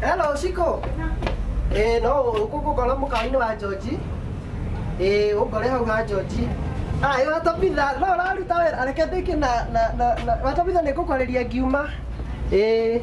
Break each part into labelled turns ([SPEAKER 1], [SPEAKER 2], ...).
[SPEAKER 1] Hello, Shiko. Eh, no, ũkũngũkora mũkawa-inĩ wa George. Eh, ũngore hau ha George. Ah, ĩyo watobitha, no ũraruta wĩra, areke ndĩke na, na, na, na, watobitha nĩ ngũkwarĩria ngiuma. Eh.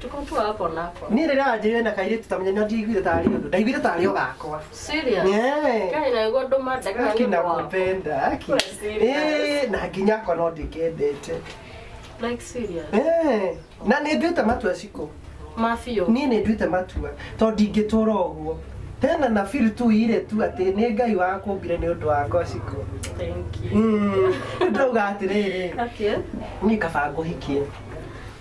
[SPEAKER 2] Tuko tu hapo nako. Niĩ rĩrĩa wanjĩrĩire na
[SPEAKER 1] kairĩtu tamenya na ndiaiguire tarĩ ũndũ. Ndaiguire tarĩ o gakwa. Serious? Yeah. Kai na iguo
[SPEAKER 2] ndũ mandaka Haki na kupenda,
[SPEAKER 1] haki. Wewe serious? Eh, na nginya akwa no ndĩkendete. Like
[SPEAKER 2] serious. Eh, na
[SPEAKER 1] nĩ nduĩte matua ciko. Mafio. Niĩ
[SPEAKER 2] nĩ nduĩte matua
[SPEAKER 1] tondũ ndingĩtũra ũguo. Hena na feel tu ire tu atĩ nĩ Ngai wakũmbire nĩ ũndũ wakwa ciko. Thank you.
[SPEAKER 2] Mm, Ndauga atĩrĩrĩ,
[SPEAKER 1] Okay. niĩ kaba ngũhikie.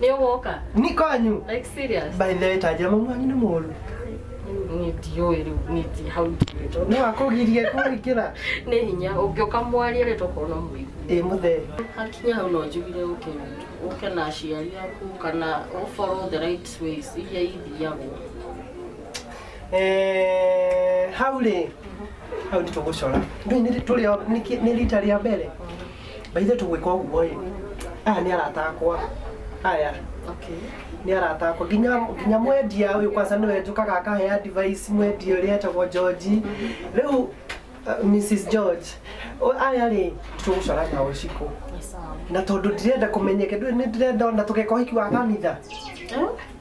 [SPEAKER 1] Nĩ ũgũka?
[SPEAKER 2] Ni kwanyu. Like
[SPEAKER 1] serious? By
[SPEAKER 2] the way, tanjira mama
[SPEAKER 1] wanyu nĩ mũru. Niĩ
[SPEAKER 2] ndiũĩ rĩu, niĩ ndi hau ndĩrĩtwo. Nĩ wakũgirie
[SPEAKER 1] kũingĩra. Nĩ hinya,
[SPEAKER 2] ũngĩũka mwarie rĩ tũkona mũigua. Ĩ mũthee. Hakinya
[SPEAKER 1] hau no
[SPEAKER 2] njugire ũke ũke na aciari aku kana ũ follow the right ways iria ithiagwo.
[SPEAKER 1] Eh, hau rĩ hau nĩ tũgũcora Ndũĩ nĩ- tũrĩ o- nĩ kĩ- nĩ rita rĩa mbere Baithe tũgwĩka ũguo ĩ, aya nĩ arata akwa aya Okay. nĩ arata akwa nginya nginya mwendia ũyũ kwanza nĩwe njũkaga akahe advice mwendia ũrĩa etagwo George rĩu uh, Mrs George o- aya rĩ tũgũcora nao ũcikũ Nĩ sawa. na tondũ ndirenda kũmenyeke ndũĩ nĩ ndĩrenda ona tũgeka ũhiki wa kanitha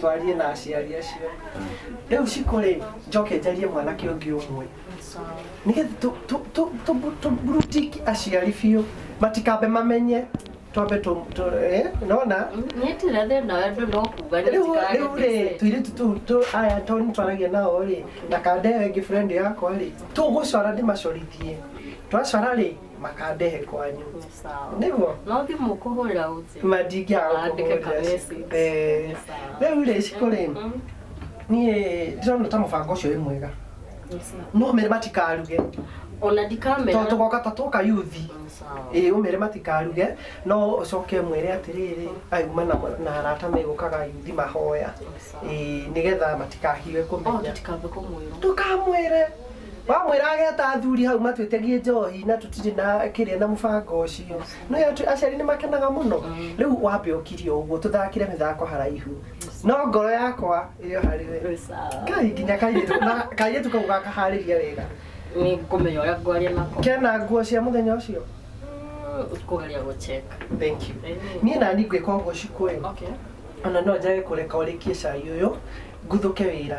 [SPEAKER 1] twarie na aciari acio rĩu ciko rĩ njoke njarie mwanake ũngĩ ũmwe nĩgetha tũ- tũ- tũ- tũ- tũmbrutiki aciari biũ matikambe mamenye twambe tũ- tũ- eh, nona nyitire
[SPEAKER 2] thĩna wa andũ no kuga rĩu rĩu rĩ
[SPEAKER 1] tuirĩtu tũu tũ aya to nĩ twaragia nao rĩ na kanda ĩyo ĩngĩ friend yakwa rĩ tũgũcora ndĩmacorithie twacora rĩ makandehe kwanyu Nĩ sawa. nĩguo No thiĩ mũkũhũrĩra
[SPEAKER 2] ũnjĩre. mandingĩaga Wandĩke
[SPEAKER 1] ka kũhũrĩra message. Eh, Nĩ sawa. rĩu rĩ cikũ rĩ Mm, niĩ ndĩrona ta mũbango ũcio wĩ mwega nĩ sawa. no ũmere matikaruge Ona
[SPEAKER 2] ndikamera. tondũ tũgoka ta twoka
[SPEAKER 1] yuthi Nĩ sawa. ĩĩ ũmere matikaruge no ũcoke mwĩre atĩrĩrĩ auma na na arata megũkaga yuthi mahoya Nĩ sawa. ĩĩ nĩgetha matikahiwe Oh, kũmenya tũtikambe kũmwĩra. ndũkamwĩre wamwĩra ageta athuri hau matwĩtegie njohi na tũtirĩ na kĩrĩa na mũbango ũcio no atu- aciari nĩ makenaga mũno rĩu wambe ũkirie ũguo tũthakire mĩthako haraihu no ngoro yakwa ĩrĩ o harĩ we ngai nginya kairĩtu na kairĩtu kau gakaharĩria wega nä ngå menya
[SPEAKER 2] å rä a ngwaria nako kena nguo cia mũthenya
[SPEAKER 1] ũcio
[SPEAKER 2] kå geria gå cheka thank you
[SPEAKER 1] niĩ nani ngwĩka ũguo cikũĩ ona no njage kũreka ũrĩkie cai ũyũ nguthũke wĩra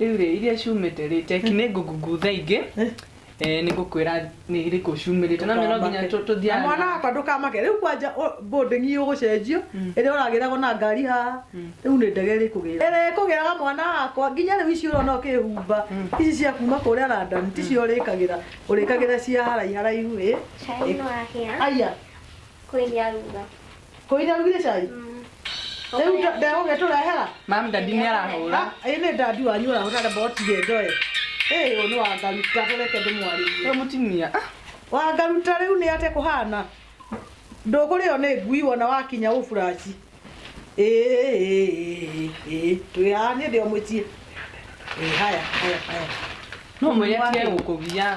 [SPEAKER 3] Rĩu rĩ, iria
[SPEAKER 4] ciumĩte rĩ, teki nĩ ngũngutha ingĩ eh, nĩ ngũkwĩra nĩ irĩkũ ciumĩrĩte. Na no nginya tũ- Na tũthiaga mwana na- wakwa ndũkamake
[SPEAKER 3] rĩu kwanja boarding ĩyo gũcenjio ĩrĩa ũragĩragwo na ngari haha rĩu nĩ ndege ĩrĩkũgĩra ĩrĩa ĩkũgĩraga mwana wakwa nginya rĩu ici ũrona ũkĩhumba ici cia kuma kũrĩa London ticio ũrĩkagĩra ũrĩkagĩra cia haraiha haraihu ĩ Cai nĩ
[SPEAKER 5] wahĩa, aya
[SPEAKER 3] kwĩna ruga.
[SPEAKER 5] Kũira arugire cai?
[SPEAKER 3] Rĩu nda- ndegũgĩtũrehera? Mam dadi nĩ
[SPEAKER 4] arahũra. Ah, ĩ nĩ dadi wanyu
[SPEAKER 3] ũrahũra na mbotire ndoe. Ĩ ũyũ nĩ wangaru tatũreke ndĩmwarĩrie. Ũyũ mũtumia. Ah,
[SPEAKER 4] Wangaruta
[SPEAKER 3] rĩu nĩ ate kũhana. Ndũkũrĩo nĩ ngui wona wakinya ũburaci. Ĩ, ĩ, ĩ, ĩ, twĩ haha niĩ ndĩ o mũciĩ. Ĩ, haya, haya, haya.
[SPEAKER 4] No mwĩre atige gũkũgia.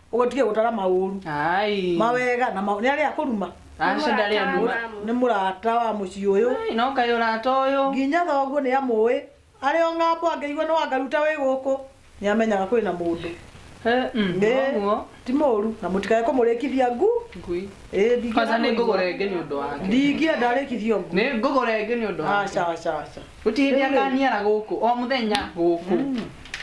[SPEAKER 3] ũgũtige gũtara maũru Ai. mawega na maũru nĩ arĩa kũruma Aca ndarĩ anduma.
[SPEAKER 4] nĩ mũrata
[SPEAKER 3] wa mũciĩ ũyũ Ai, no kaĩ ũrata
[SPEAKER 4] ũyũ. nginya thoguo nĩ
[SPEAKER 3] amũĩ arĩ o ng'ambo angĩigua nĩ wangaruta wĩ gũkũ nĩ amenyaga kwĩ na mũndũ Eh, mm, Nĩ- noguo. ti mũru na mũtikae kũmũrĩkithia ngu Ngui. Ĩ, ndingĩenda Kwanza nĩ
[SPEAKER 4] kũigua. ngũgũra ĩngĩ nĩ ũndũ wake. ndingĩenda arĩkithio
[SPEAKER 3] ngu Nĩ ngũgũra ĩngĩ nĩ ũndũ
[SPEAKER 4] wake. aca aca aca Gũtirĩ
[SPEAKER 3] hĩndĩ akaniara
[SPEAKER 4] gũkũ, o mũthenya gũkũ.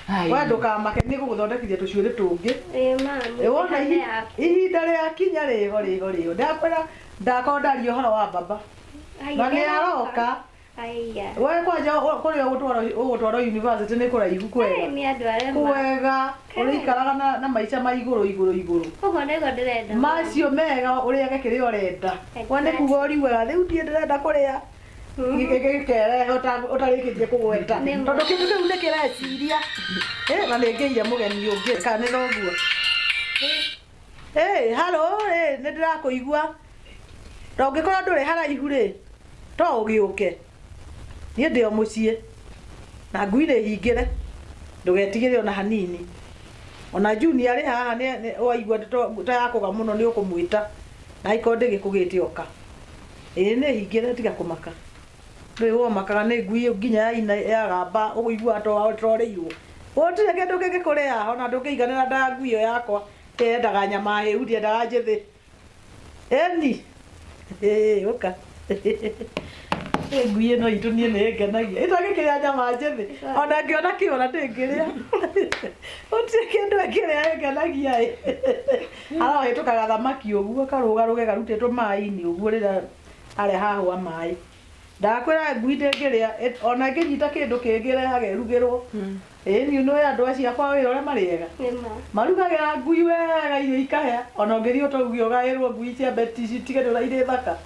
[SPEAKER 4] Hai. we
[SPEAKER 3] ndũkamake nĩ gũgũthondekithia tũcuĩrĩ tũngĩ Ĩĩ mami. Ĩ, wona ihi- Yaku. ihinda rĩakinya rĩho rĩho rĩho ndakwĩra ndakorwo ndaria ũhoro wa baba Ai, na nĩ aroka Aiya. we kwanja ũ- kũrĩa ũgũtwarwo- ũgũtwarwo university nĩ kũraihu Ai, kwega nĩ andũ arĩa ma- kwega Kai. ũrĩikaraga na- na maica ma igũrũ igũrũ igũrũ Ũguo nĩguo ndĩrenda. macio mega ũrĩage kĩrĩa ũrenda we nĩ kuga ũriugaga rĩu ndiĩ ndĩrenda kũrĩa gikerehe ũtarĩkĩtie kũgweta Nĩ ma. tondũ kĩndũ kĩu nĩ kĩreciria Eh, na nĩngĩire mũgeni ũngĩ kanĩra ũguo Hey, halo rĩ nĩ ndĩrakũigua na ũngĩkorwo ndũrĩ haraihu rĩ to ũgĩũke niĩ ndĩ o mũciĩ na ngui nĩ hingĩre ndũgetigĩre ona hanini ona juni arĩ haha nĩ- nĩ- waigua to- ta yakũga mũno nĩ ũkũmwĩta na ikorwo ndĩgĩkũgĩte oka ĩĩ nĩ hingĩre tiga kũmaka rĩu womakaga nĩ ngui nginya ya ina ya gamba ũiguaga to torĩirwo gũtirĩ kĩndũ kĩngĩkũrĩa ona ndũngĩiganĩra nda ngui ĩyo yakwa yendaga nyama hĩu ndiendaga njĩthĩ eni ĩĩ ũka Ĩ ngui ĩno itũ niĩ nĩ ngenagia ĩtangĩkĩrĩa nyama njĩthĩ ona ngĩona kĩũra ndĩngĩrĩa gũtirĩ kĩndũ ĩngĩrĩa ĩngenagia ĩ Arohĩtũka gathamaki ũguo karũgarũge garutĩtwo maĩ-inĩ ũguo rĩrĩa arĩa hahwa maĩ. Ndakwĩra ngui ndĩngĩrĩa ĩt- ona ĩngĩnyita kĩndũ kĩngĩ ĩrehage ĩrugĩrwo. Ĩĩ niũ nĩũĩ andũ acio akwa wĩra ũrĩa marĩ ega. Marugagĩra ngui wega irio ikahĩa. Ona ũngĩthiĩ ũtauge ũgaĩrwo ngui ciambe ti- citige nĩ ũrĩa irĩ thaka.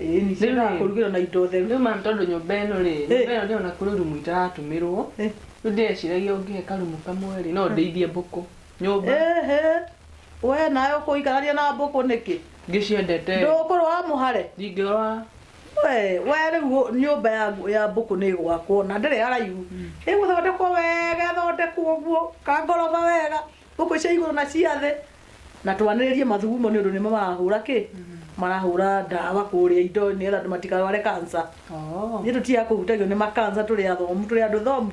[SPEAKER 3] Ĩĩni Rĩu ciendaga rĩ? kũrugĩrwo na indo theru. Rĩu ma'am tondũ nyũmba ĩno
[SPEAKER 4] rĩ, Ĩ. nyũmba ĩno ndĩrona kũrĩ rumu itaratũmĩrwo, Ĩ. rĩu ndĩreciragia ũngĩhe karumu kamwe rĩ, no ndĩithie mbũkũ. nyũmba Ehe.
[SPEAKER 3] We nawe ũkũikarania na mbũkũ nĩkĩ? ngĩciendete
[SPEAKER 4] Ndũkũrũa mũhare.
[SPEAKER 3] ndingĩrwa
[SPEAKER 4] We,
[SPEAKER 3] we rĩu ũ- nyũmba ya, ya mbũkũ nĩ ĩgwakwo na ndĩrĩ haraihu. Ĩgũthondekwo wega ĩthondekwo ũguo ka ngoroba wega. Mbũkũ cia igũrũ na cia thĩ. Na twanĩrĩrie mathugumo nĩ ũndũ nĩmo marahũra kĩ? Marahũra ndawa kũrĩa indo nĩgetha andũ matikarware cancer. Oo. Nĩ tũtiaga kũhutagio nĩ makansa tũrĩ athomu tũrĩ andũ thomu.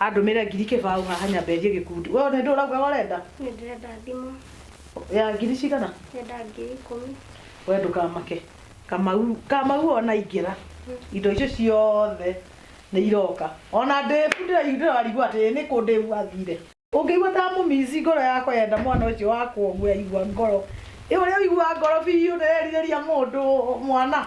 [SPEAKER 3] Andũmĩre ngiri kĩbaũ haha nyambe thiĩ gĩkundi. We nĩ ndũũ ũraugaga ũrenda? Nĩ ndĩrenda
[SPEAKER 5] thimũ. Ya ngiri
[SPEAKER 3] cigana? Ndĩrenda ngiri
[SPEAKER 5] ikũmi. We ndũkamake.
[SPEAKER 3] Kamau, Kamau ona aingĩra, indo icio ciothe nĩ iroka. Ona ndĩbu ndĩra- ndĩrarigwo atĩ nĩ kũ ndĩbu athire. Ũngĩigua ta mũmici ngoro yakwa yenda mwana ũcio wakwa ũguo yaigua ngoro. Ĩ ũrĩa ũiguaga ngoro biũ ndĩrerirĩria mũndũ mwana.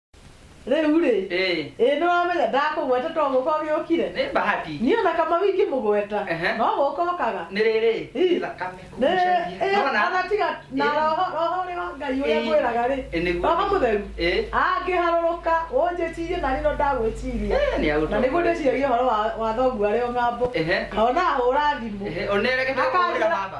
[SPEAKER 3] rĩu-rĩ Eh. ĩ nĩ wamenya ndakũgweta to gũka ũgĩũkire Nĩ bahati. niĩ ona
[SPEAKER 6] kama wingĩ
[SPEAKER 3] mũgweta Ehe. no gũka ũkaga Nĩ rĩrĩ. Ih.
[SPEAKER 6] Thakame Nĩ- kugucania. ĩ, Nona? ona
[SPEAKER 3] tiga na Ĩ. roho roho ũrĩ wa ngai ũrĩa Ĩ. ngwĩraga rĩ Ĩ, nĩguo. roho mũtheru Ĩ. angĩharũrũka ũnjĩcirie na rĩno ndagwĩciria Ĩ, nĩ agũtũ. na nĩguo ndĩciragia ũhoro wa- wa thoguo arĩ o ng'ambo Ehe. ona ahũra thimũ Ehe, onereke tũkũhũrĩra Akanjĩra- baba.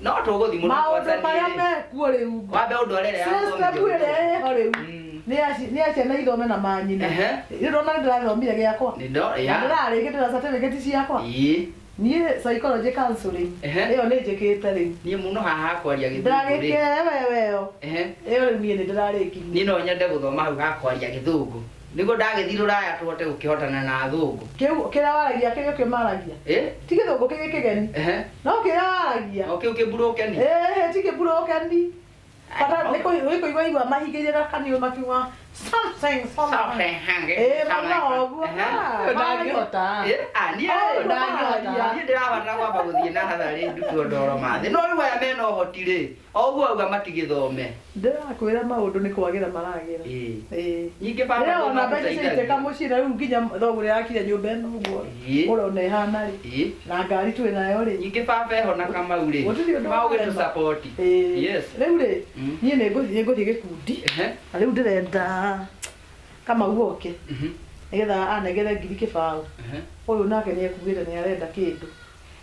[SPEAKER 3] no tũgũthimũra
[SPEAKER 6] maũndũ marĩa
[SPEAKER 3] mekuo rĩu wambe ũndorere ya
[SPEAKER 6] system ũthomithio ĩrĩa witũ. ĩho
[SPEAKER 3] rĩu Mm. nĩ ya ci- nĩ ya ciana ithome na manyina Ehe. ndĩrona nĩ ndĩrathomire gĩakwa Nĩ ndo- na ya. ndĩrarĩkĩte na certificate ciakwa Ĩĩ. niĩ psychology counseling Ehe. ĩyo nĩ njĩkĩte rĩu niĩ mũno haha kwaria
[SPEAKER 6] gĩthũngũ rĩ ndagĩkee wewe
[SPEAKER 3] ĩyo Ehe. ĩyo rĩu niĩ nĩ ndĩrarĩkirie niĩ no nyende gũthoma
[SPEAKER 6] hau ha kwaria gĩthũngũ Nĩguo ndagĩthiĩ rũraya tũhote gũkĩhotana na athũngũ. Kĩu kĩrĩa waragia
[SPEAKER 3] kĩrĩ ũkĩ maragia. Ĩ? Ti gĩthũngũ kĩrĩ kĩgeni. Ehe. No kĩrĩa waragia. O kĩu kĩmburũkeni.
[SPEAKER 6] Ĩhĩ ti kĩmburũkeni.
[SPEAKER 3] Bata nĩ kũi- nĩ kũigua igua mahingĩire gakaniũrũ makiuga something, something. Ĩĩ, mũno ũguo. Ehe. Ah, Ũyũ ndangĩhota. Ĩ? Ah, niĩ Ũyũ rĩ, ndangĩhota.
[SPEAKER 4] niĩ
[SPEAKER 6] ndĩrabatara kwamba gũthiĩ natharĩ ndutwo ndoro ma thĩ. No rĩu aya mena ũhoti rĩ, O ũguo auga matigĩthome. Ndĩrakwĩra
[SPEAKER 3] maũndũ nĩ kwagĩra maragĩra. Ĩĩ. Ĩĩ. Ningĩ
[SPEAKER 6] baba Rĩrĩa wona mbeca ciaitĩka
[SPEAKER 3] nĩmatũteithagia. mũcira rĩu nginya thoguo ũrĩa yakire nyũmba ĩno ũguo Ĩĩ. ũrona ĩhana rĩ Ĩĩ. na ngari twĩ nayo rĩ Ningĩ baba eho na kamau
[SPEAKER 6] rĩ. gũtirĩ ũndũ Mau warema. gĩtũsapoti. Ĩĩ. Yes. Rĩu rĩ
[SPEAKER 3] Mm. niĩ nĩ ngũthiĩ ngũthiĩ gĩkundi Ehe. na rĩu ndĩrenda kamau oke Mhm. nĩgetha anengere ngiri kĩbaũ Ehe. ũyũ nake nĩ ekuĩte nĩ arenda kĩndũ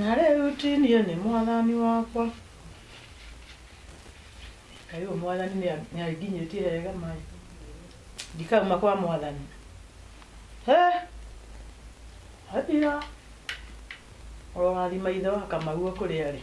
[SPEAKER 3] na rĩu ti niĩ nĩ mwathani wakwa kaĩ ũyũ mwathani nĩa- nĩanginyĩtie hega maĩ ndikauma kwa mwathani he athira ũrorathima ithe wa kamau kũrĩa rĩ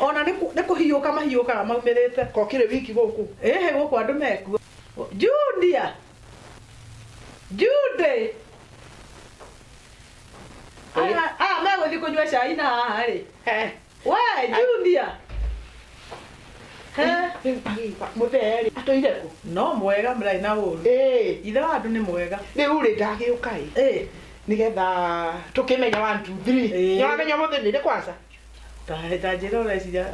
[SPEAKER 3] ona nĩ kũ- nĩ kũhiũka mahiũkaga maumĩrĩte ko kĩrĩ wiki gũkũ
[SPEAKER 4] ĩhĩ gũkũ andũ mekuo
[SPEAKER 3] judia jude aya aya megũthiĩ kũnyua cai na haha rĩ Eh, we judia He,
[SPEAKER 4] mũtheri atũire kũ no mwega mũrarĩ
[SPEAKER 3] na ũru Ĩĩ, ithe wa andũ nĩ mwega rĩu rĩ ndagĩũka
[SPEAKER 4] ĩ Ĩ, nĩgetha tũkĩmenya one two three Ĩĩ. nĩwamenya mũthĩ nĩrĩ kwanza Ta- ta
[SPEAKER 3] njĩra ũreciria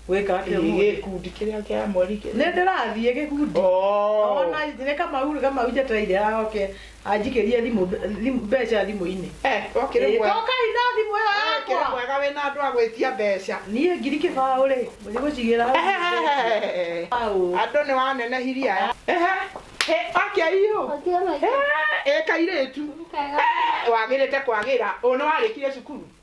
[SPEAKER 3] gwĩka atĩa Ĩ, ũmũthĩ? gĩkundi kĩrĩa kĩa
[SPEAKER 4] mweri kĩrĩa- nĩ ndĩrathiĩ gĩkundi
[SPEAKER 3] Oh. Ona nĩ kamau rĩ kamau njetereire aoke anjikĩrie thimũ thimũ- mbeca thimũ-inĩ Eh, to kĩrĩ Ĩ, mwega.
[SPEAKER 4] tokai na thimũ ĩyo Eh,
[SPEAKER 3] kĩrĩ yakwa mwega wĩna andũ a
[SPEAKER 4] gwĩtia mbeca niĩ ngiri kĩbaũ
[SPEAKER 3] rĩ mũthiĩ gũcigĩra hau. Ehehehe. Baũ.
[SPEAKER 4] andũ nĩ wanenehirie aya Ehe. Ĩ, akĩaiyũ Ũkĩona ĩ kairĩtu Kega. Eh, wagĩrĩte kwagĩra ũyũ nĩ warĩkire cukuru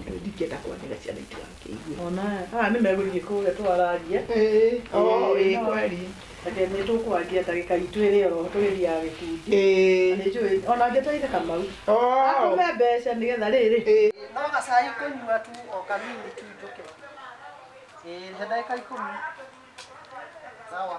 [SPEAKER 4] Ndio ndingĩenda kwanĩra ciana itũ angĩigua. Ona haha nĩ
[SPEAKER 3] megũthiĩ kũrĩa twararia. Ĩĩ, oo, ĩĩ
[SPEAKER 4] kweli. Reke nĩ
[SPEAKER 3] tũkwaria ndagĩka itũ ĩrĩ oro tũgĩthiaga gĩkundi. Ĩĩ. Nĩ njũĩ ona angĩteithia Kamau. Oo. Akũhe mbeca nĩgetha rĩrĩ. Ĩĩ. No gacai kũnyua tu o kanini tu njũke. Ĩĩ, he ndagĩka ikũmi. Sawa.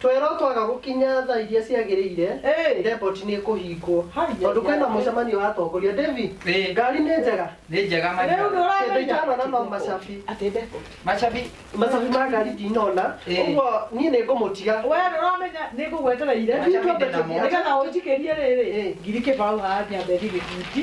[SPEAKER 3] Twerwo twaga
[SPEAKER 1] gũkinya thaa iria ciagĩrĩire, Hey. depot nĩ ĩkũhingwo. Hai, Tondũ hai, kwĩna hai. mũcemanio wa atongoria. Devi, Hey. ngari nĩ njega. Nĩ njega Rĩu manyina.
[SPEAKER 6] ndũra- Kĩndũ itanona
[SPEAKER 1] no macabi. Atĩ ndeko. Macabi. Macabi ma ngari ndinona. Hey. Ũguo niĩ nĩ ngũmũtiga. We ndũramenya
[SPEAKER 3] nĩ ngũgwetereire. Macabi ndĩnamo. Nĩgetha ũnjikĩrie rĩrĩ. Hey. Ngiri kĩbaũ haha nyambe ndigĩkuti.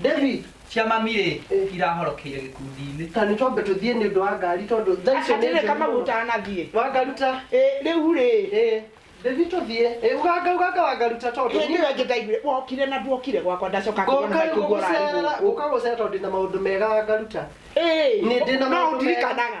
[SPEAKER 1] David, cia mami rĩ
[SPEAKER 6] Eh. irahorokeire gĩkundi-inĩ ta nĩ twambe tũthiĩ
[SPEAKER 1] nĩ ũndũ wa ngari tondũ thaa icio nĩ atirä njũru kama mũno. gutanathie
[SPEAKER 4] wangaruta
[SPEAKER 1] rä u rä ĩ
[SPEAKER 4] David tũthiä
[SPEAKER 1] ĩ uganga uganga wangaruta tondũ hä ndä ä yo njä ndaiguire
[SPEAKER 4] wokire na nduokire gwakwa ndacoka ngåka gå gå cera tondå ndä
[SPEAKER 1] na maå ndå mega wangaruta Nĩ ndĩ na maũndũ mega. ndirikanaga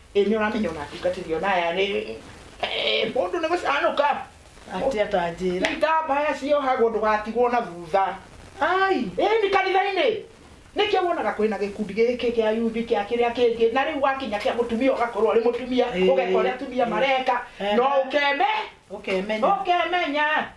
[SPEAKER 4] Ĩ nĩ ũramenya ona ndungatĩri ona aya nĩ eh, mũndũ nĩ gũcanũka Atĩ
[SPEAKER 3] atanjĩra. itambaya ciohagwo
[SPEAKER 4] ndũgatigwo na thutha Ai. ĩni kanitha-inĩ nĩkĩo wonaga kwĩna gĩkundi gĩkĩ kĩa yuthi kĩa kĩrĩa kĩngĩ na rĩu wakinya kĩa mũtumia ũgakorwo ũrĩ mũtumia Ĩĩ. ũgeka ũrĩa atumia mareka Ehe. no ũkeme Ũkemenya. ũkemenya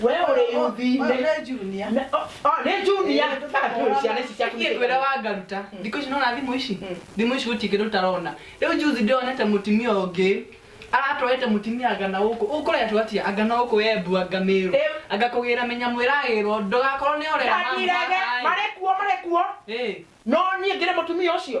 [SPEAKER 4] we ũrĩ yuthinĩ Wewe junior.
[SPEAKER 3] Na- o- o, nĩ junia
[SPEAKER 4] atũrĩ ciana ici ciaku Niĩ ndwĩra wa ngaruta
[SPEAKER 2] thikũ ici nona thimũ ici thimũ ici gũtirĩ kĩndũ ũtarona rĩu juzi ndĩronete mũtimia ũngĩ aratwarĩte mũtimia anga na gũkũ ũkũretwo atia anga na gũkũ we mbua ngamĩrũ Rĩu- anga kũgĩra menya mwĩragĩrwo ndũgakorwo nĩ orera mamu Ndagirege, haha-ĩ. marĩ kuo
[SPEAKER 4] marĩ kuo Ĩ, no niĩ ngĩre mũtumia ũcio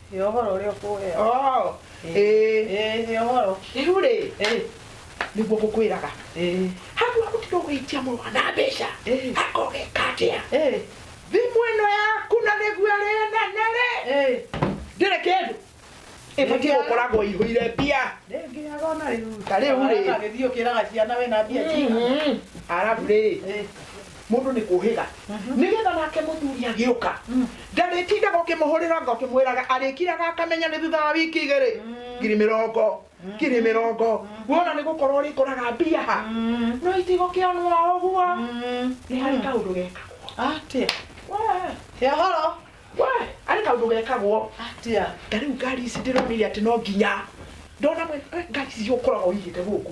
[SPEAKER 3] He ũhoro ũrĩa ũkũheo. Oh,
[SPEAKER 4] Ĩĩ. ĩĩ. Ĩĩ,
[SPEAKER 3] he ũhoro. Rĩu rĩ, Ĩĩ,
[SPEAKER 4] nĩguo ngũkwĩraga. ĩĩ, Handũ ha gũtinda ũgĩitia mũrũ wa na mbeca, Ĩĩ. akogeka atĩa? ĩĩ, Thimũ ĩno yaku na nĩguo arĩa nene rĩ, ĩĩ. ndĩrĩ kĩndũ. Ĩbatiĩ Ndĩngĩaga. gũkoragwo ihũire mbia. Ndĩngĩaga ona
[SPEAKER 3] rĩu. Ta rĩu rĩ. Agĩthiĩ
[SPEAKER 4] ũkĩraga ciana
[SPEAKER 3] wĩna mbia cigana. Mhm. Arabu rĩ, Ĩĩ,
[SPEAKER 4] mũndũ nĩ kũhĩga nĩgetha nake mũthuri agĩũka ndarĩtindaga ũkĩmũhũrĩra nga ũkĩmwĩraga arĩkiraga akamenya nĩ thutha wa wiki igĩrĩ ngiri mĩrongo ngiri mĩrongo wona nĩ gũkorwo ũrĩkoraga mbia ha no itigũkĩonwo o ũguo nĩ harĩ kaũndũ gekagwo atia
[SPEAKER 3] Wee, ya horo wee,
[SPEAKER 4] harĩ kaũndũ gekagwo atia ta rĩu
[SPEAKER 3] ngari ici
[SPEAKER 4] ndĩronire atĩ no nginya ndona mwena eh, ngari ici ũkoraga ũigĩte gũkũ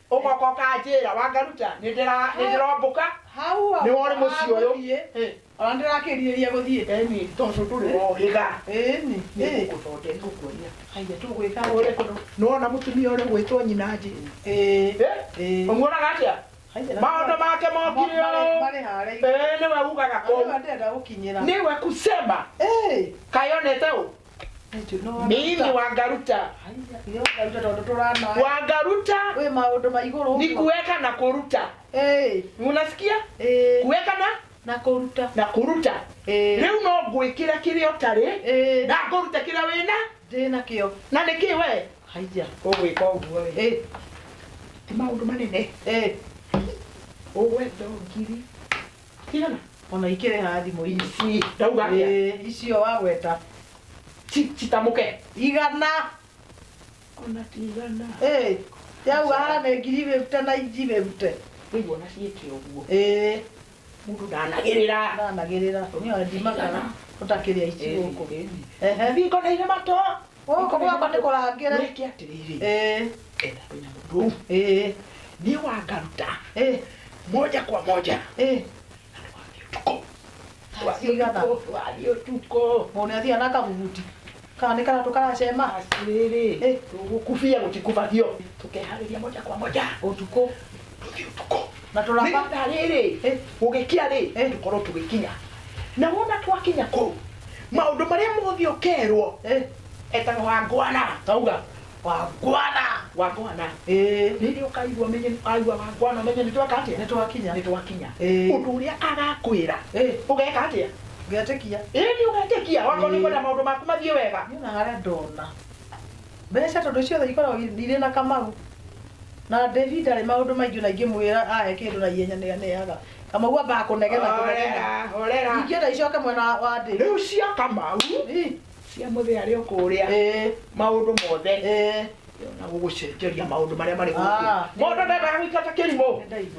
[SPEAKER 4] ũgoka ũkanjĩra wangaruta nĩ ndĩra- nĩ ndĩrombũka hau nĩ wore mũciĩ ũyũ agũthiĩ, Eh, ona ndĩrakĩrirĩria
[SPEAKER 3] gũthiĩ eni tondũ ndũrĩ
[SPEAKER 4] wohĩga ĩni ĩ
[SPEAKER 3] nĩngũgũthonde ngũkuonia
[SPEAKER 4] haiya tũgwĩka
[SPEAKER 3] ũrĩ kũndũ nĩwona mũtumia ũrĩa
[SPEAKER 4] ũgwĩtwo nyina njĩ ĩĩ ĩĩ ũmuonaga atĩa maũndũ make mokire ũũ marĩ harĩ Ĩĩ, nĩwe ugaga kũu ndenda gũkinyĩra nĩwe kusema ĩĩ kayonete ũ Thank you. No, mimi ni wangaruta Haiya, nĩ ũkaruta tondũ tũrana wangaruta wĩ maũndũ ma igũrũ ni kuweka na kuruta Eh, unasikia eh, kuweka na na kũruta
[SPEAKER 3] na kuruta
[SPEAKER 4] Eh. riu no ngwikira kiria utari Eh. na nguruta kiria wina ndĩ nakĩo
[SPEAKER 3] na niki we
[SPEAKER 4] haiya ugwika
[SPEAKER 3] uguo ri
[SPEAKER 4] Eh, ti maundu manene eh, ugwe ndongiri Tigana. Ona ikĩrĩ
[SPEAKER 3] ha thimũ ici. Ici. Ndauga atĩa? Ĩĩ,
[SPEAKER 4] icio wagweta.
[SPEAKER 3] Ci-
[SPEAKER 4] Citamũke. Igana. Ona tigana. Ĩĩ, yauga
[SPEAKER 3] haha nĩ ngiri bĩbute na inji bĩbute. Rĩu ona ciĩke
[SPEAKER 4] ũguo. Ĩĩ, Mũndũ ndanagĩrĩra. ndanagĩrĩra. Nĩyo
[SPEAKER 3] ndimakaga ũtakĩrĩa ici gũkũ. Ehe. Thingo na
[SPEAKER 4] irĩ matũ. Gũkũ gwakwa nĩ
[SPEAKER 3] kũrangĩre. Wĩke atĩrĩrĩ,
[SPEAKER 4] Eh, etha wĩna mũndũ ũyũ, eh, niĩ wangaruta eh, moja kwa moja eh. na ndwathiĩ ũtukũ.
[SPEAKER 3] Ndwathiĩ Cigana? ũtukũ, ndwathiĩ ũtukũ.
[SPEAKER 4] Mũndũ nĩ athiaga na kabuguti.
[SPEAKER 3] Kana nĩ karatũ karacema. Atĩrĩrĩ, Eh.
[SPEAKER 4] tũgũkubia gũtikubagio. Tũkeharĩria moja kwa moja. Ũtukũ.
[SPEAKER 3] Tũthiĩ ũtukũ.
[SPEAKER 4] Na tũraba. nĩgetha
[SPEAKER 3] rĩrĩ Eh.
[SPEAKER 4] gũgĩkĩa rĩ Eh. tũkorwo tũgĩkinya na wona twakinya kũu maũndũ marĩa mothe ũkerwo Eh, etaga wangwana tauga wangwana wangwana Eh, rĩrĩa ũkaigua menye aigua wangwana menye nĩ tweka atĩa nĩ twakinya nĩ twakinya Eh. ũndũ ũrĩa agakwĩra Eh. ũgeka atĩa ngetĩkia
[SPEAKER 3] ĩni ũgetĩkia
[SPEAKER 4] wakorwo nĩ Eh. kwenda maũndũ maku mathiĩ wega nyonaga ndona
[SPEAKER 3] Mbeca tondũ ciothe ikoragwo irĩ na Kamau. Na Devi ndarĩ maũndũ maingĩ ona ingĩmwĩra ahe kĩndũ na ihenya nĩ aneaga. Kamau ambaga kũnegena kũnegena. Horera, horera.
[SPEAKER 4] Ingĩenda icoke mwena
[SPEAKER 3] wa- wa Devi. Rĩu cia Kamau,
[SPEAKER 4] Ĩ, cia mũthee arĩ o kũrĩa, ĩ, maũndũ mothe, ĩ. na gũgũcenjeria maũndũ marĩa marĩ gũkũ. Ah. Mũndũ ndendaga gũikara ta kĩrimũ. Nĩ ndaigua.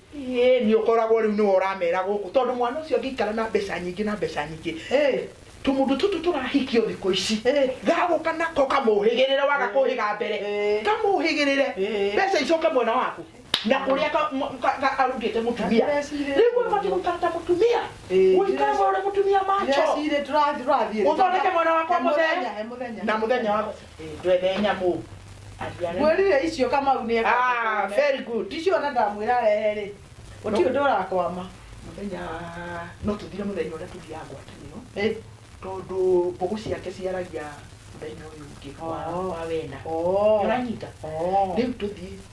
[SPEAKER 4] Ĩĩni, ũkoragwo rĩu nĩwe ũramera gũkũ tondũ mwana ũcio angĩikara na mbeca nyingĩ na mbeca nyingĩ, tũmũndũ tũtũ tũrahikio thikũ ici gagũka nako kamũhĩgĩrĩre, waga kũhĩga mbere kamũhĩgĩrĩre, mbeca icoke mwena waku na kũrĩa arutĩte mũtumia. Rĩu we ũbatiĩ gũikara ta mũtumia, ũikare we ũrĩ mũtumia macho,
[SPEAKER 3] ũthondeke mwena wakwa
[SPEAKER 4] mũthenya na mũthenya waku. ndwende nyamũ Aria rĩu. mwĩrire
[SPEAKER 3] icio kamau nĩ Ah, very good icio
[SPEAKER 4] ona ndamwĩra arehe
[SPEAKER 3] rĩ gũtirĩ ũndũ ũrakwama mũthenya
[SPEAKER 4] no tũthire mũthenya ũrĩa tũthiaga ngwatanĩro Ĩ, tondũ mbũgũ ciake ciaragia mũthenya ũyũ ũngĩ wa- Oh. wa wena oo, ũranyita oo. rĩu tũthiĩ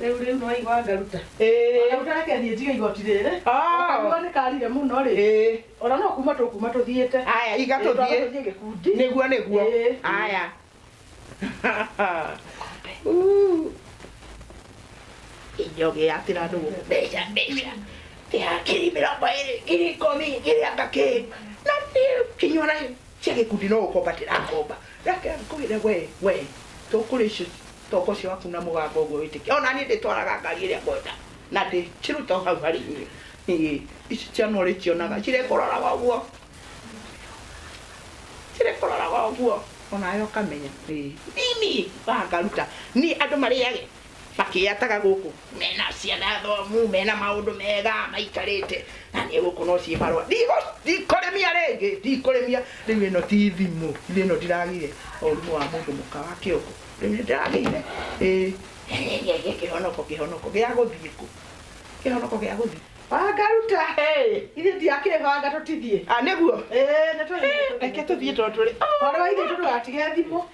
[SPEAKER 3] rĩu rĩu nĩwaigua ngaruta Ĩĩ. ngaruta reke thiĩ njige igoti rĩrĩ Ah. Karuga nĩ karire mũno rĩ Ĩĩ. ona no kuma tũkuma tũthiĩte Aya, iga tũthiĩ.
[SPEAKER 4] tũthiĩ gĩkundi
[SPEAKER 3] Nĩguo nĩguo. Ĩĩ.
[SPEAKER 4] Aya. Uu. Injoge yatira andũ gũkũ mbeca mbeca. Tia ngiri mĩrongo ĩrĩ, ngiri ikũmi, ngiri anga kĩ. Na niĩ kinyua na Ciake kundi no gũkombatĩra ngomba. Reke ngũire we, we. Tũkũrĩa icio toko cia waku na mũgambo ũguo wĩtĩkia. O na niĩ ndĩtwaraga ngari ĩrĩa ngwenda na ndĩciruta o hau harĩ inyuĩ. Ĩĩ, ici ciana ũrĩkĩonaga cirĩkũroraga ũguo, cirĩkũroraga ũguo o nawe ũkamenya. Ĩĩ, thĩinĩ wa ngaruta niĩ andũ marĩage. makĩyataga gũkũ mena ciana thomu mena maũndũ mega maikarĩte na niĩ gũkũ no ciĩ marũa Ndigo- ndikũrĩmia rĩngĩ ndikũrĩmia rĩu ĩno ti thimũ rĩu ĩno ndiragire ũrimũ wa mũndũ mũka wa kĩongo rĩu nĩ ndĩragĩire ĩĩ gĩkĩ kĩhonoko kĩhonoko gĩa gũthiĩ kũ kĩhonoko gĩa gũthiĩ wangaruta ithe
[SPEAKER 3] ndiakĩbanga tũtithiĩ nĩguo reke tũthiĩ tondũ tũrĩ
[SPEAKER 4] warwa ithe tũtigatige
[SPEAKER 3] thimũ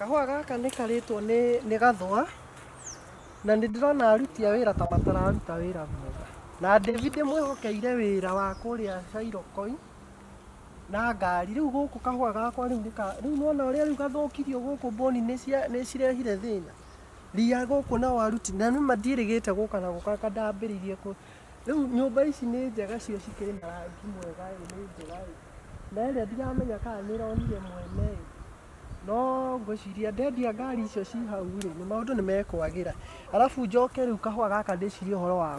[SPEAKER 1] kahũa gaka nĩ karĩtwo nĩ nĩ gathũa na nĩ ndĩrona aruti a wĩra ta matararuta wĩra mwega na David mwĩhokeire wĩra wa kũrĩa Shyrokoi na ngari rĩu gũkũ kahũa gakwa rĩu nĩka rĩu nona ũrĩa rĩu gathũkirio gũkũ mbũni nĩ cirehire thĩna ria gũkũ na waru ti na nĩma ndiĩrĩgĩte gũka na gũka kandambĩrĩirie kũ rĩu nyũmba ici nĩ njega cio cikĩrĩ na rangi mwega ĩ nĩ njega ĩ na ĩrĩa ndiramenya kana nĩ ĩronire mwene ĩ no ngwĩciria ndendia ngari icio ci hau rĩ nĩ maũndũ nĩ mekwagĩra arabu njoke rĩu kahũa gaka ndĩcirie ũhoro wa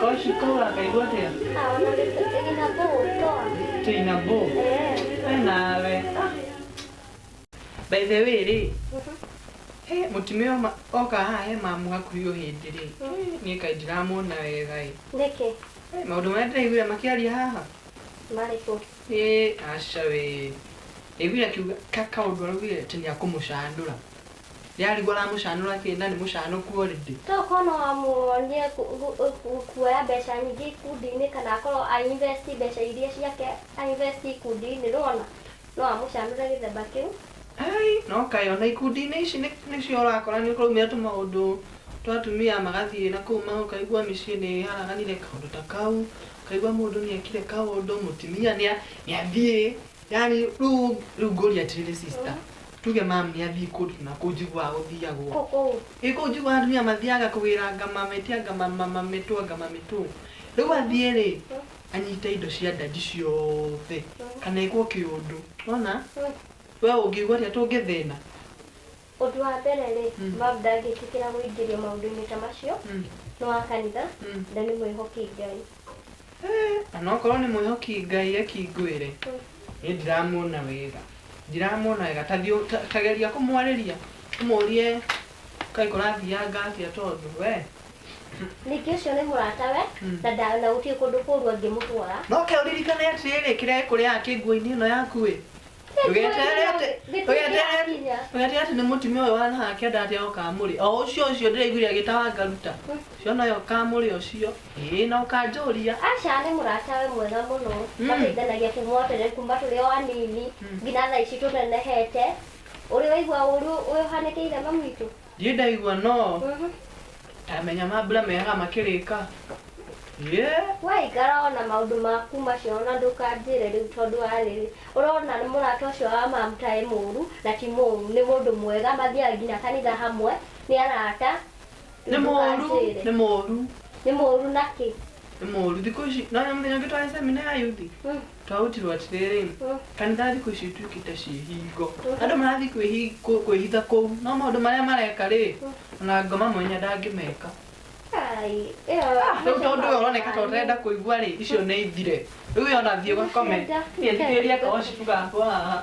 [SPEAKER 2] Koshi ko wakaigua
[SPEAKER 5] atia? Ah, ona nĩ- ina bũũ toa.
[SPEAKER 2] Tina bo. Eh. We nawe. Ah. By the way rĩ. He mutumia ũyũ ma- oka haha he mamu hakuhĩ o hĩndĩ rĩ. Niĩ kaĩ ndiramuona wega ĩ. Nĩkĩ? He,
[SPEAKER 5] Maũndũ marĩa ndĩraiguire
[SPEAKER 2] makĩaria haha. Marĩkũ?
[SPEAKER 5] Ĩ
[SPEAKER 2] aca we. Ndaiguire akiuga ka kaũndũ araugire atĩ nĩakũmũcandũra. Nĩarigwo aramũcanũra kĩ na nĩ mũcanũku already. To okorwo no amuonie
[SPEAKER 5] kuoya mbeca nyingĩ ikundi-inĩ kana akorwo a invest mbeca iria ciake a invest ikundi-inĩ nĩwona? No amũcanũre gĩthemba kĩu. Aai no
[SPEAKER 2] kaĩ ona ikundi-inĩ ici nĩcio ũrakora nĩkũraumĩra tũmaũndũ twa atumia magathiĩ na kũu ũkaigua mĩciĩ nĩharaganire kaũndũ ta kau, ũkaigua mũndũ nĩekire kaũndũ, mũtumia nĩathiĩ yani rĩu rĩu ngũria atĩrĩrĩ sister tuge mam nĩ athiĩ kũndũ na kũu njiguaga gũthiagwo Kũkũ. ĩ kũu njiguaga atumia mathiaga kũgĩra ngama metia ngama mama mĩtũ ngama mĩtũ rĩu athiĩ rĩ anyite indo cia ndandi ciothe kana ĩkwo kĩũndũ wona we ũngĩigua atĩa tũngĩthĩna Ũndũ
[SPEAKER 5] wa mbere-rĩ, Bob ndangĩtĩkĩra gũingĩrio maũndũ-inĩ ta macio. Nĩ wa kanitha na nĩ mwĩhoki Ngai. Eeh, o
[SPEAKER 2] na okorwo nĩ mwĩhoki Ngai ekingũĩre, niĩ ndiramuona wega. Ndiramuona wega. Ta thiĩ ta ta geria kũmwarĩria, ũmũrie kaĩ kũrathianga atĩa tondũ wee. Ningĩ
[SPEAKER 5] ũcio nĩ mũratawe na nda na gũtirĩ kũndũ kũũru angĩmũtwara. Na ũke ũririkane
[SPEAKER 2] atĩrĩrĩ, kĩrĩa gĩkũrĩaga kĩ nguo-inĩ ĩno yaku-ĩ, ũgeterera atĩ nĩ mũtumia ũyũ wa naha akĩenda atĩ ũkamũrĩ o ũcio ũcio ndĩraiguire agĩtawa ngaruta ũcio noyo ũkamũrĩ ũcio ĩĩ na ũkanjũria Asha nĩ mũrata
[SPEAKER 5] we mwega mũno Mm. mateithanagia kuma o tene kuma tũrĩ o anini Mm. nginya thaa ici tũnenehete ũrĩ waigua ũru ũyũ ũhanĩkĩire mamu witũ Ndiĩ ndaigua no
[SPEAKER 2] tamenya mambura mehaga makĩrĩka Yeah. we
[SPEAKER 5] ikara ona maũndũ maku macio ona ndũkanjĩre rĩu tondũ wa rĩrĩ ũrona nĩ mũrata ũcio wa mamta e mũũru na ti mũũru nĩ mũndũ mwega mathiaga nginya kanitha hamwe nĩ arata nĩ rĩu mũũru
[SPEAKER 2] ndũkanjĩre. nĩ mũũru nĩ mũũru
[SPEAKER 5] nakĩ nĩ mũũru thikũ
[SPEAKER 2] ici nona mũthenya ũngĩ twarĩ semina ya yuthi Mm. Twautirwo atĩrĩrĩ, kanitha thikũ ici ituĩkĩte ta ciĩhingo. Andũ marathiĩ kwĩhi- kũ- kwĩhitha kũu, no maũndũ marĩa mareka rĩ, ona ngoma mwanya ndangĩmeka. Ai, ĩyo Ah, Rĩu tondũ ũyũ ũroneka ta ũtarenda kũigua rĩ, icio nĩ ithire. Rĩu we ona thiĩ ũgakome. Niĩ thikĩrĩria ka worship gakwa haha.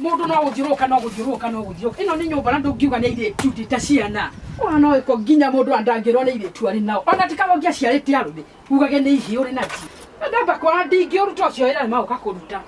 [SPEAKER 7] Mũndũ no gũthiũrũrũka no gũthiũrũrũka no gũthiũrũrũka. Ĩno nĩ nyũmba na ndũngiuga nĩ airĩtu ti ta ciana. Ona no ĩko nginya mũndũ ona ndangĩrwo nĩ airĩtu arĩ nao. Ona ti kaba ũngĩaciarĩte arũme ugage nĩ ihĩĩ ũrĩ nacio. Na ndamba kwara ndingĩũruta ũcio wĩra nĩ maũka kũruta.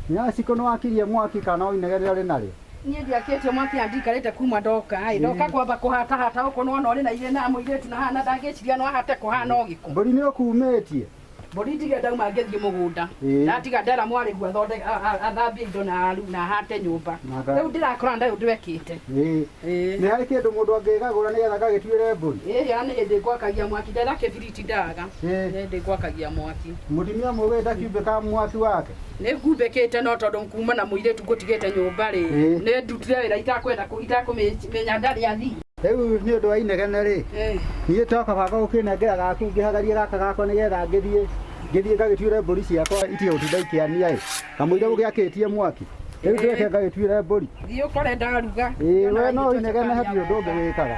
[SPEAKER 8] Nyaciko nĩ wakirie mwaki kana o inegene rĩrĩa ũrĩ narĩo? Niĩ ndiakĩtie
[SPEAKER 7] mwaki na ndikarĩte kuma ndoka ĩ. Ndoka kwamba kũhatahata gũkũ nĩwona ũrĩ na irĩna mũirĩtu na haha na ndangĩciria no ahote kũhana o gĩko. Mbũri nĩ ũkumĩtie?
[SPEAKER 8] Mbũri njige
[SPEAKER 7] ndauma ngĩthiĩ mũgũnda Ĩĩ. ndatiga ndera mwarĩgu athonde- a- a- athambie indo na aru na ahate nyũmba Naka- rĩu ndĩrakora ndarĩ ũndũ ekĩte Ĩĩ. Ĩĩ. nĩ
[SPEAKER 8] harĩ kĩndũ mũndũ angĩgagũra nĩgetha gagĩtuĩre mbũri ĩĩ ana nĩ hĩndĩ ngwakagia
[SPEAKER 7] mwaki ndera kĩbiriti ndaga Ĩĩ. nĩ hĩndĩ ngwakagia mwaki mũtumia mũgĩ
[SPEAKER 8] ndakiumbĩka mwaki wake nĩ ngumbĩkĩte
[SPEAKER 7] no tondũ kuma na mũirĩtu ngũtigĩte nyũmba rĩ Ĩĩ. nĩ ndutire wĩra itakwenda kũ- itakũmenya ndarĩ athii Rĩu nĩ ũndũ wa
[SPEAKER 8] inegene-rĩ, niĩ to kaba gũkĩnengera gaku ngĩhagarie gaka gakwa nĩgetha ngĩthiĩ ngĩthiĩ ngagĩtuĩre mbũri ciakwa itige gũtinda ikĩania-ĩ, kamũira ũgĩakĩtie mwaki. Rĩu ndĩreke ngagĩtuĩre mbũri. Thiĩ
[SPEAKER 7] ũkore ndaruga. Ĩĩ we no ũinegene
[SPEAKER 8] hatirĩ ũndũ ũngĩ wĩkaga.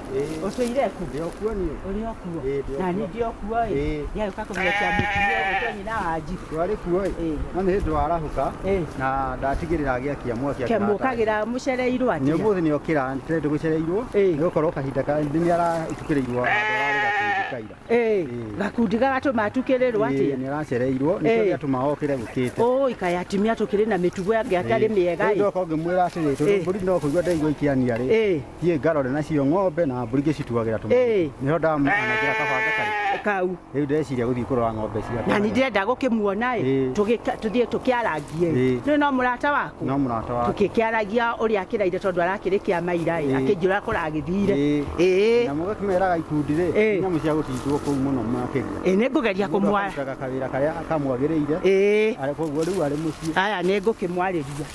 [SPEAKER 8] Ucio ire
[SPEAKER 3] ku. Ndio kuo ni. Uri
[SPEAKER 8] okuo.
[SPEAKER 3] Na ni ndio kuo
[SPEAKER 8] ri.
[SPEAKER 3] Ya uka ko mwe kia mutu ni uko ni na waji. Twari kuo ri.
[SPEAKER 8] No ni ndo arahuka. Na ndatigirira agia kia mwa kia. Kemu kagira mucereirwo
[SPEAKER 3] ati. Ni muthi ni okira ntre
[SPEAKER 8] ndu gucereirwo. Ni ukorwo kahinda ka ni ara tukirirwo. Kaira. Eh. Gakundi gagatu
[SPEAKER 3] matukirirwo ati. Ni aracereirwo. Ni
[SPEAKER 8] kuri atuma okire gukite. Oh ikaya atimia
[SPEAKER 3] tukiri na mitugo yangi atari miega. Ndio ko ngimwira ati.
[SPEAKER 8] Turi no kuigwa ndaigwa ikiania ri. thiä ngarore nacio ng'ombe na mbũri ngĩcituagĩra tũ Ĩĩ. nĩho ndamanagĩra kabanga karĩ kau rĩu ndeciria
[SPEAKER 3] gũthiĩ kũrora
[SPEAKER 8] ng'ombe ciakwa na nä ndärenda gå kä muona
[SPEAKER 3] Ĩĩ. tå thiä tå kä arangie Ĩĩ. nä no må rata waku no mũrata wa tå kä kä
[SPEAKER 8] aragia å rä a akä
[SPEAKER 3] raire tondå arakä rä kä a maira Ĩĩ. akä njä ra kå ragä thire Ĩĩ. ä na mũgakĩmeraga
[SPEAKER 8] ikundi rĩ Ĩĩ. nyamũ cia gũtindwo kũu mũno makĩria nä ngå geria kå mwara
[SPEAKER 3] karutaga kawĩra karĩa
[SPEAKER 8] kamwagĩrĩire ä arĩ koguo rĩu arĩ mũciĩ aya nä ngå kä mwarä
[SPEAKER 3] ria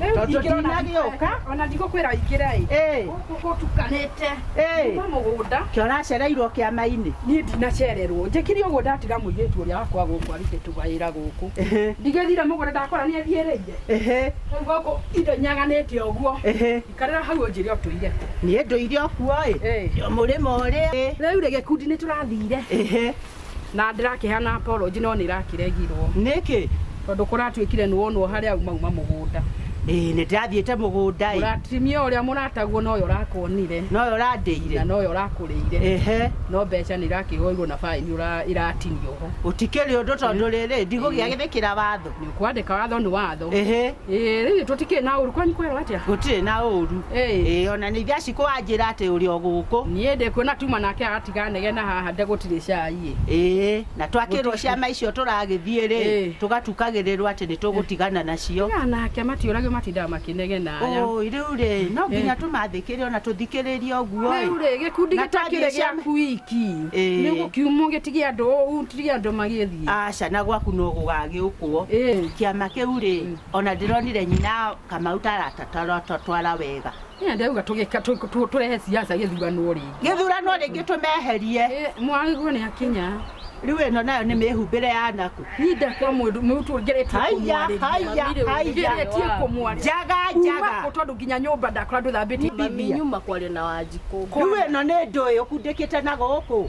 [SPEAKER 3] Rĩu Tondũ ingĩra ona ndinagĩũka. ndikwe- ona ndigũkwĩra
[SPEAKER 7] ingĩra ĩ Ĩĩ. gũkũ gũtukanĩte Ĩĩ. kuma mũgũnda Kĩ ũracereirwo
[SPEAKER 3] kĩama-inĩ. niĩ ndinacererwo
[SPEAKER 7] njĩkire ũguo ndatiga mũirĩtu ũrĩa wakwa gũkũ arute tũwĩra gũkũ Ĩhĩ. ndigĩthire mũgũnda ndakora nĩ athiĩrĩire Ĩhĩ. rĩu gũkũ indo nyaganĩte ũguo Ĩhĩ. ikarĩra hau ũnjĩre ũtũire kũ Niĩ ndũire
[SPEAKER 3] ũkuo ĩ. Ĩĩ. Mũrĩmo ũrĩa. rĩu rĩ gĩkundi nĩ
[SPEAKER 7] tũrathire Ĩhĩ. Na ndĩrakĩhana apology no nĩrakĩregirwo. Nĩkĩ?
[SPEAKER 3] Tondũ kũratuĩkire
[SPEAKER 7] nĩwonwo harĩa umauma mũgũnda. Ĩĩ nĩndĩrathiĩte
[SPEAKER 3] mũgũnda ĩ. Mũratimia ũrĩa
[SPEAKER 7] mũrataguo nowe ũrakuonire. Nowe ũrandĩire.
[SPEAKER 3] Na nowe ũrakũrĩire.
[SPEAKER 7] Ehe. No mbeca nĩirakĩhoirwo na baĩni ĩratinio ho. Gũtikĩrĩ ũndũ tondũ
[SPEAKER 3] rĩrĩ ndigũgĩathĩkĩra watho. nä å kwandäka watho nä
[SPEAKER 7] watho ĩhĩ rä u tå tikä na å ru kwanyu kwerwo atä a gũtirĩ na ũũru
[SPEAKER 3] Ĩĩ. Ĩĩ, ona nĩ ithe aci kũwanjĩra atĩ ũrĩ o gũkũ niä ndä kuona tuma
[SPEAKER 7] nake agatiga negena haha ndä gå tirä cai ĩĩ na twakĩrwo
[SPEAKER 3] ciama icio tũragĩthiĩ rĩ Ĩĩ. tũgatukagĩrĩrwo atĩ nĩ tũgũtigana nacio aya nake matiåragio
[SPEAKER 7] matindaga makä negena aya Ũĩ, rĩu rĩ no
[SPEAKER 3] nginya tũmathĩkĩre ona tũthikĩrĩrie ũguo rä u rä gä kundi Na gä
[SPEAKER 7] takä rä twathiĩ gä ciama- aku iki Ĩĩ. nä gå kiumwo gä tige andå å u tige andå magä mũciĩ. Aca na gwaku no
[SPEAKER 3] gũgagĩũkwo. Kĩama kĩu rĩ, ona ndĩronire nyina Kamau ta aratatwara wega. Nĩ ndĩrauga
[SPEAKER 7] tũrehe siasa gĩthurano rĩngĩ. Gĩthurano rĩngĩ
[SPEAKER 3] tũmeherie. Mwaigua nĩ
[SPEAKER 7] akinya. Rĩu ĩno nayo
[SPEAKER 3] nĩ mĩhumbĩre ya naku. Niĩ ndakwa mũndũ
[SPEAKER 7] mũtu ngeretie kũmwarĩria. Haiya, haiya, haiya. Ngeretie kũmwarĩria. Njaga, njaga. Kuma kũ tondũ nginya nyũmba ndakora ndũthambĩtie. Mami nyuma kwaria na
[SPEAKER 9] Wanjikũ. Rĩu ĩno nĩ ndũĩ
[SPEAKER 3] ũkundĩkĩte na gũkũ.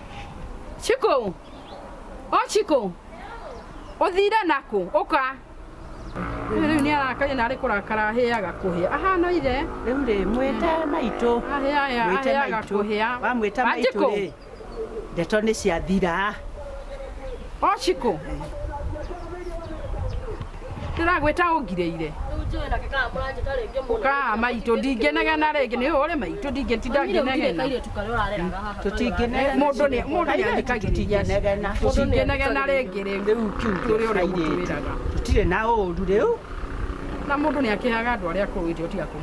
[SPEAKER 3] Chiku!
[SPEAKER 7] O Chiku! Ũthire nakũ? Ũka! Rĩu rĩu nĩ arakaire na arĩ kũrakara ahĩaga kũhĩa. Ahana ithe. Rĩu rĩ, mwĩte
[SPEAKER 3] maitũ.
[SPEAKER 7] Ahĩaya,
[SPEAKER 3] Mwĩte ahĩaga maitũ. kũhĩa. Wamwĩta
[SPEAKER 7] maitũ Wanjikũ!
[SPEAKER 3] rĩ, ndeto nĩ ciathira.
[SPEAKER 7] O Chiku! ndĩragwĩta ũngirĩire ũkaa maitũ ndingĩnegena rĩngĩ nĩ ũrĩ maitũ ndingĩtinda ngĩnegena
[SPEAKER 3] tũtingĩnegena mũndũ nĩ mũndũ
[SPEAKER 7] nĩ athikagĩrĩria tũtingĩnegena
[SPEAKER 3] tũtingĩnegena rĩngĩ
[SPEAKER 7] rĩu rĩu kiugo tũrĩ ũrĩa ũmũtwĩraga tũtirĩ na
[SPEAKER 3] ũru rĩu na mũndũ
[SPEAKER 7] nĩ akĩaga andũ arĩa akũrũ ithuĩ tiga kũmwĩra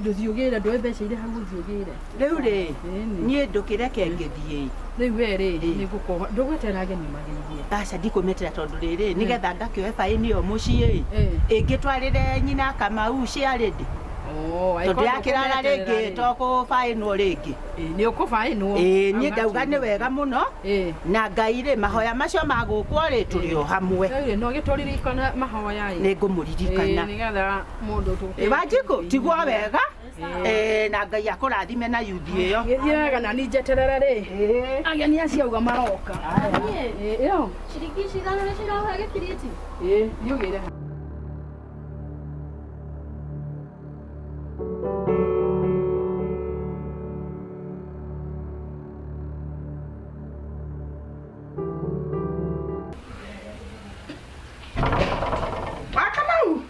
[SPEAKER 9] ndũthiũgĩre
[SPEAKER 7] ndũĩ mbeca irĩ hau ũthiũgĩre rĩu rĩ Ĩni.
[SPEAKER 3] niĩ ndũkĩreke ngĩthiĩ rĩu we rĩ Ĩ.
[SPEAKER 7] nĩ ngũkoha ndũgwetera ageni magĩithie aca ndikũmetera
[SPEAKER 3] tondũ rĩrĩ nĩgetha ngakĩoe baĩni ĩyo mũciĩ Ĩ. ĩngĩtwarĩre nyina kamau ciarĩ ndĩ tondũ yakĩrara rĩngĩ tokũbaĩnwo rĩngĩ nĩ ũkũbaĩnwo
[SPEAKER 7] Ĩĩ, niĩ ndauga nĩ
[SPEAKER 3] wega mũno Ĩĩ. na ngai rĩ mahoya macio magũkwo rĩ tũrĩ o hamwe Rĩu rĩ, no gĩtũririkana
[SPEAKER 7] mahoya ĩ nĩ ngũmũririkana
[SPEAKER 3] Ĩĩ, nĩgetha mundu
[SPEAKER 7] tu ibajiko tigwo
[SPEAKER 3] wega eh, na ngai akurathime na yuthi iyo githie wega na ni njeterere
[SPEAKER 7] ri ageni acio uga maroka Eh, iyo Shiriki shirano
[SPEAKER 5] na shirano hage kiriti. Eh, ni ugire
[SPEAKER 3] wakamau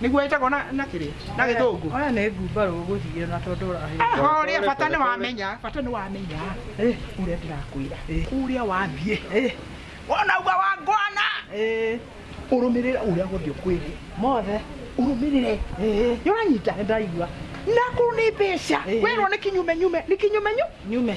[SPEAKER 4] nĩguo ĩtagwo na na kĩrĩa na gĩthũngũ Oya nĩ ngumbarũ
[SPEAKER 3] ũgũthiĩ na tondũ ũrahĩra. horia bata nĩ wamenya
[SPEAKER 4] bata nĩ wamenya Eh. ũrĩa ndĩrakwĩra Eh. kũrĩa wathiĩ Eh, wona uga wa ngwana eh, ũrũmĩrĩre ũrĩa gũthiĩ ũkwĩrĩ mothe.
[SPEAKER 3] ũrũmĩrĩre
[SPEAKER 4] Eh, nĩũranyita nĩ ndaigua
[SPEAKER 3] nakuru nĩ
[SPEAKER 4] mbeca Eh. wĩrwo nĩ kinyumenyume nĩ kinyumenyu nyume.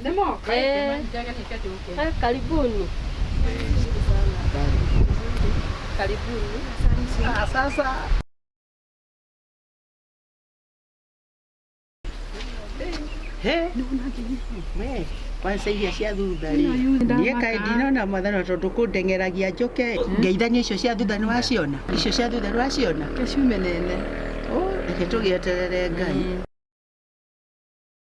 [SPEAKER 7] Nimo, karibu
[SPEAKER 5] Eh. mama, nitaka
[SPEAKER 4] niketi huko. Eh, karibuni. Karibuni. Ah, sasa He, we, kwanza iria cia thutha rĩ niä kaä ndinona mwathana tondå kå ndeng'eragia njoke ngeithania icio cia thutha nä waciona icio cia thutha nä waciona Kesho menene. Ó, reke tå gä
[SPEAKER 7] eterere
[SPEAKER 4] ngai